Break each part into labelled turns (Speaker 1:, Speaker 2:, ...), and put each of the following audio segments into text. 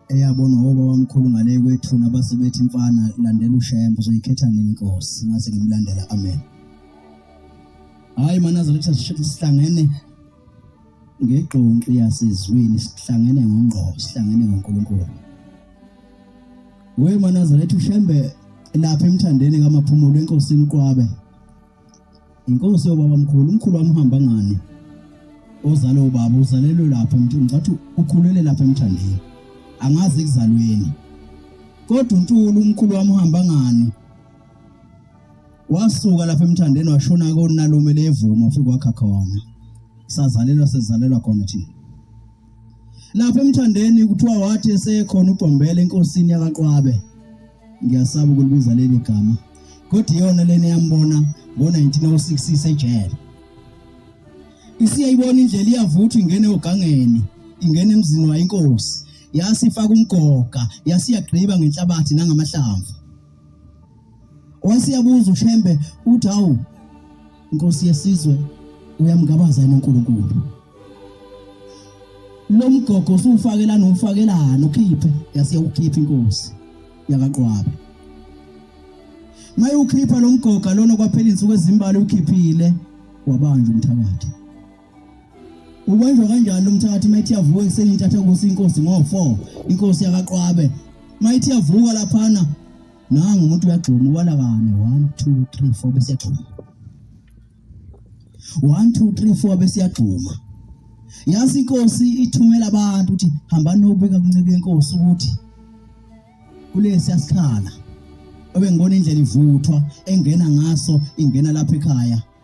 Speaker 1: eyabona ngoba wamkhulu ngale kwethuna base bethi mfana landela ushembe uzoyikhetha nini inkosi ngase ngimlandela amen hayi manazaretha sihlangene ngegqonqi yasezwini sihlangene ngongqo sihlangene ngoNkulunkulu we manazaretha ushembe lapha emthandeni kamaphumulo enkosini uqwabe inkosi yobaba mkhulu umkhulu wami uhamba ngani ozale ubaba uzalelwe lapho mntu ngicathi ukhulele lapho emthandeni angazi ekuzalweni kodwa untulu umkhulu wami uhamba ngani wasuka lapha emthandeni washona konalume levuma ufike wakha khona sazalelwa sezalelwa khona thina lapha emthandeni kuthiwa wathi esekhona uBhombela enkosini yakaqwabe ngiyasaba ukulibiza leli gama kodwa iyona lena yambona ngo-1906 isejele isiyayibona indlela iyavuthwa ingene ogangeni ingene emzini wayo inkosi yasifaka umgoga yasiyagqiba ngenhlabathi nangamahlamvu wasiyabuza ushembe uthi hawu Inkosi yesizwe uyamgabaza yena uNkulunkulu. Lo mgogo usufakelana umfakelana ukhiphe yase ukhipha inkosi yakaqwaba. Maye ukhipha lo mgoga lona kwaphela insuku ezimbali ukhiphile wabanja umthakathi. Ubanjwa kanjani umthakathi mayithi yavuka ekuseni intatha kusi inkosi ngo4 inkosi yakaqwabe mayithi yavuka laphana nangu umuntu uyagxuma ubala kane one two three four bese yagxuma one two three four bese yagxuma yazi inkosi ithumela abantu ukuthi hambani nobika kuncike yenkosi ukuthi kulesi yasikhala obengibona indlela ivuthwa engena ngaso ingena lapha ekhaya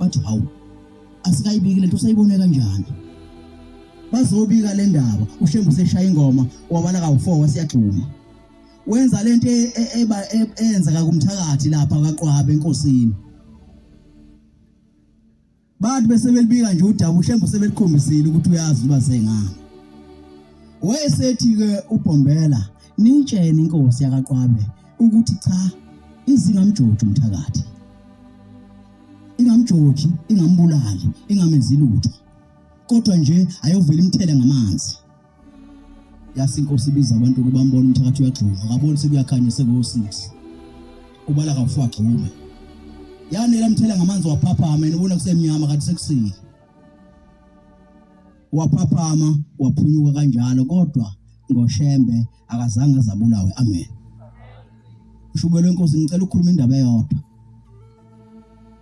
Speaker 1: bathi hawu asikayibiki lento usayibone kanjani bazobika le ndaba ushembu seshaya ingoma wabala kawu-four wasiyagxuma wenza lento e- e- eba- e- eyenzeka kumthakathi lapha kaqwabe enkosini bathi bese belibika nje udaba ushembu sebeliqombisile ukuthi uyazi uba sengani wayesethi-ke ubhombela nitshene inkosi yakaqwabe ukuthi cha izingamjoji umthakathi ingamjoji ingambulali ingamenzi lutho kodwa nje ayovela imthele ngamanzi yasi inkosi ibiza abantu ukuba mbone umthakathi uyagxuma akaboni sekuyakhanya sekuwo-six ubala kafu agxume yanela mthela ngamanzi waphaphama yena ubona kusemnyama kanti sekusile waphaphama waphunyuka kanjalo kodwa ngoshembe akazange azabulawe amen ushubelo inkosi ngicela ukukhuluma indaba eyodwa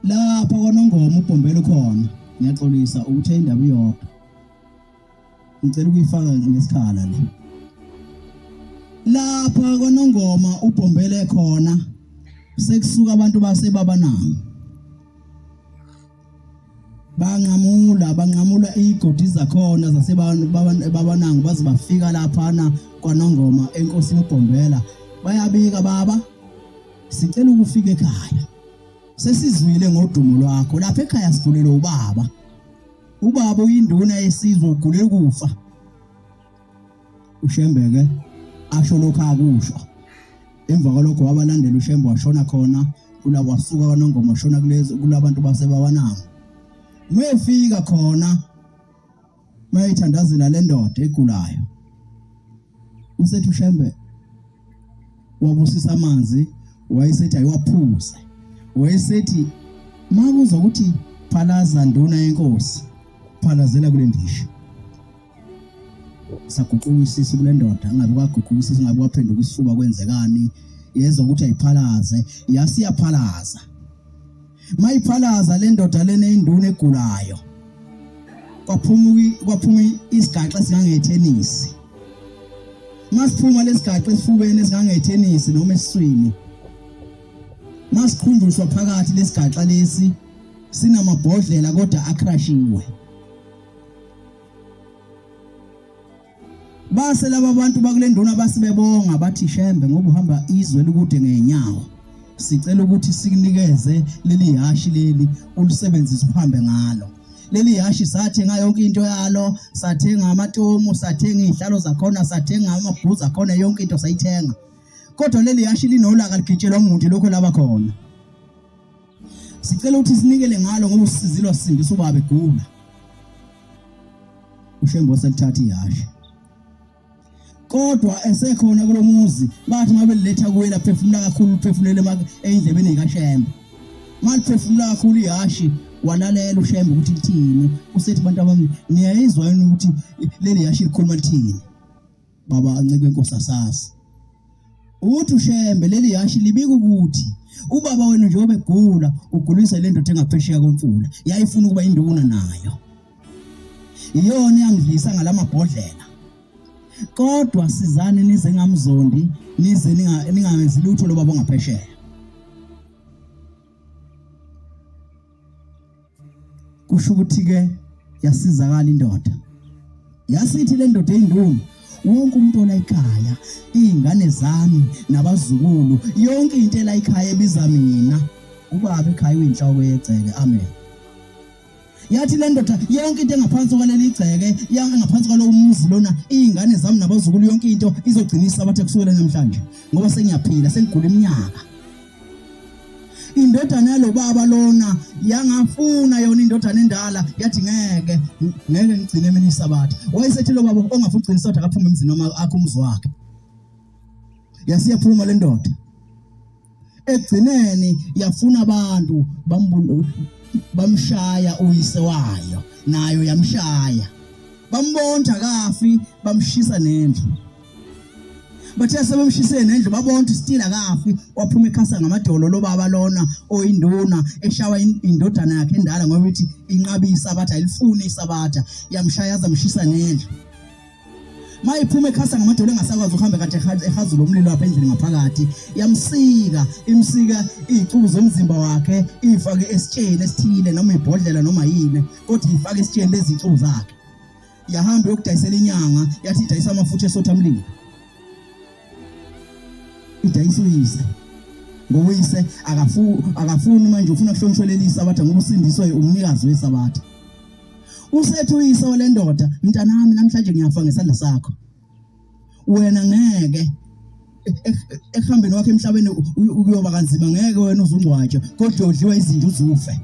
Speaker 1: lapha kwanongoma ubhombelo khona ngiyaxolisa ukuthe indaba iyodwa ngicela ukuyifaka ngesikhala le lapha kwanongoma ubhombele khona sekusuka abantu base babanami banqamula banqamula igodi zakhona zasebabanango baze bafika laphana kwanongoma enkosi yobhombela bayabika baba sicela ukufika ekhaya sesizwile ngodumo lwakho lapha ekhaya sigulelwe ubaba ubaba uyinduna yesizwe ugulela ukufa ushembeke asho lokho akusho emva kwalokho wabalandela ushembe washona khona kula wasuka kwanongoma washona kulezi kulabantu basebawananga mayefika khona mayithandazela le ndoda egulayo usethi ushembe wabusisa amanzi wayesethi ayiwaphuze wayesethi makuza ukuthi phalaza nduna yenkosi phalazela kule ndisha saguquka isisi kule ndoda angabe kwaguquka isisi ngabe kwaphenduka isifuba kwenzekani yezwa ukuthi ayiphalaze yasiyaphalaza mayiphalaza le ndoda lena induna egulayo kwaphuma kwaphuma isigaxa singangethenisi masiphuma lesigaxa esifubeni singangethenisi noma esiswini masikhunjuswa phakathi lesigaxa lesi sinamabhodlela kodwa akrashiwe base laba bantu bakule nduna basibebonga bathi shembe ngoba uhamba izwe likude ngenyawo sicela ukuthi sikunikeze leli hashi leli ulisebenzise uhambe ngalo leli hashi sathenga yonke into yalo sathenga amatomu sathenga izihlalo zakhona sathenga amabhuza akhona yonke into sayithenga kodwa leli hashi linolaka ligitshelwa umuntu lokho laba khona Sicela ukuthi sinikele ngalo ngoba usizile wasindisa ubaba egula. uShembo selithatha ihashe kodwa esekhona kulomuzi bathi mabeletha kuwe laphefumula kakhulu uphefumulele endlebeni kaShembo maliphefumula kakhulu ihashi walalela uShembo ukuthi lithini usethi abantu abami niyayizwa yini ukuthi leli hashi likhuluma lithini baba ancike inkosi asazi uthi ushembe leli yashi libika ukuthi ubaba wenu njengoba egula ugulisa le ndoda engaphesheya komfula yayifuna ukuba induna nayo iyona yangidlisa ngalamabhodlela kodwa sizani nize ngamzondi nize ningawenzi lutho lobaba ongaphesheya kusho ukuthi ke yasizakala indoda yasithi le ndoda eyinduna wonke umuntu olayikhaya iy'ngane zami nabazukulu yonke into elayikhaya ebiza mina ubaba ekhaya uyinhloko yegceke amen yathi le ndoda yonke into engaphansi kwaleli igceke engaphansi kwalowo muzi lona iy'ngane zami nabazukulu yonke into izogcinisa abathe kusukela namhlanje ngoba sengiyaphila sengigula iminyaka indodana yalobaba lona yangafuna yona indodana endala yathi ngeke ngeke ngigcine mina isabatha wayesethi lobaba ongafuna ugcina isabatha akaphume emzini noma akho umuzi wakhe yasiyaphuma le ndoda egcineni yafuna abantu bamshaya uyise wayo nayo yamshaya bambonda kafi bamshisa nendlu bathe sebemshisele nendlu babona ukuthi still akafi waphuma ekhasa ngamadolo lobaba lona oyinduna eshawa indodana yakhe endala ngoba ithi inqabi isabatha ilifuni isabatha yamshaya zamshisa nendlu mayiphuma ekhasa ngamadolo engasakwazi ukuhamba kade ehazula umlilo apha endlini ngaphakathi yamsika imsika izicubu zomzimba wakhe ifake esitsheni esithile noma ibhodlela noma yini kodwa ifake esitsheni lezicubu zakhe yahamba yokudayisela inyanga yathi idayisa amafutha esotha mlilo idayisa uyise ngoyise akafuni akafuni manje ufuna kuhlonishwe leli sabatha ngoba usindiswe umnikazi wesabatha usethi uyise walendoda mntanami namhlanje ngiyafa ngesandla sakho wena ngeke ekuhambeni wakhe emhlabeni ukuyoba kanzima ngeke wena uzungcwatshwa kodwa udliwa izinto uzufe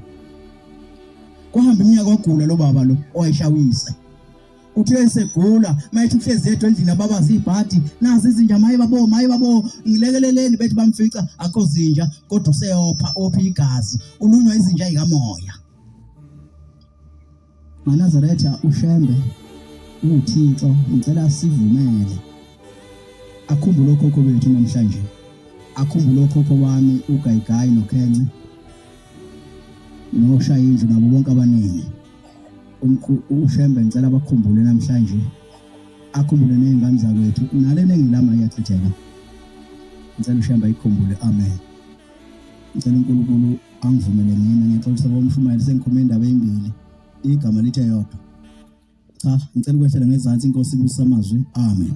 Speaker 1: kuhamba iminyaka ogula lo baba lo owayeshawisa uthe esegula mayethi uhlezi yedwa endlini ababazi ibhadi nazi izinja maye babo maye babo ngilekeleleni bethi bamfica akho zinja kodwa useyopha ophi igazi ulunywa izinja ikamoya Manazaretha uShembe uThixo ngicela sivumele akhumbule okhokho bethu namhlanje akhumbule okhokho wami uGayigayi noKhence noshaya indlu nabo bonke abaningi uShembe ngicela bakhumbule namhlanje akhumbule nezingane zakwethu nalena engilama iyachitheka ngicela uShembe ayikhumbule amen ngicela uNkulunkulu angivumele ngene ngixolisa bomshumayeli sengikhuluma indaba ezimbili igama lithi eyodwa cha ngicela ukwehlela ngezansi inkosi ibusisa amazwi amen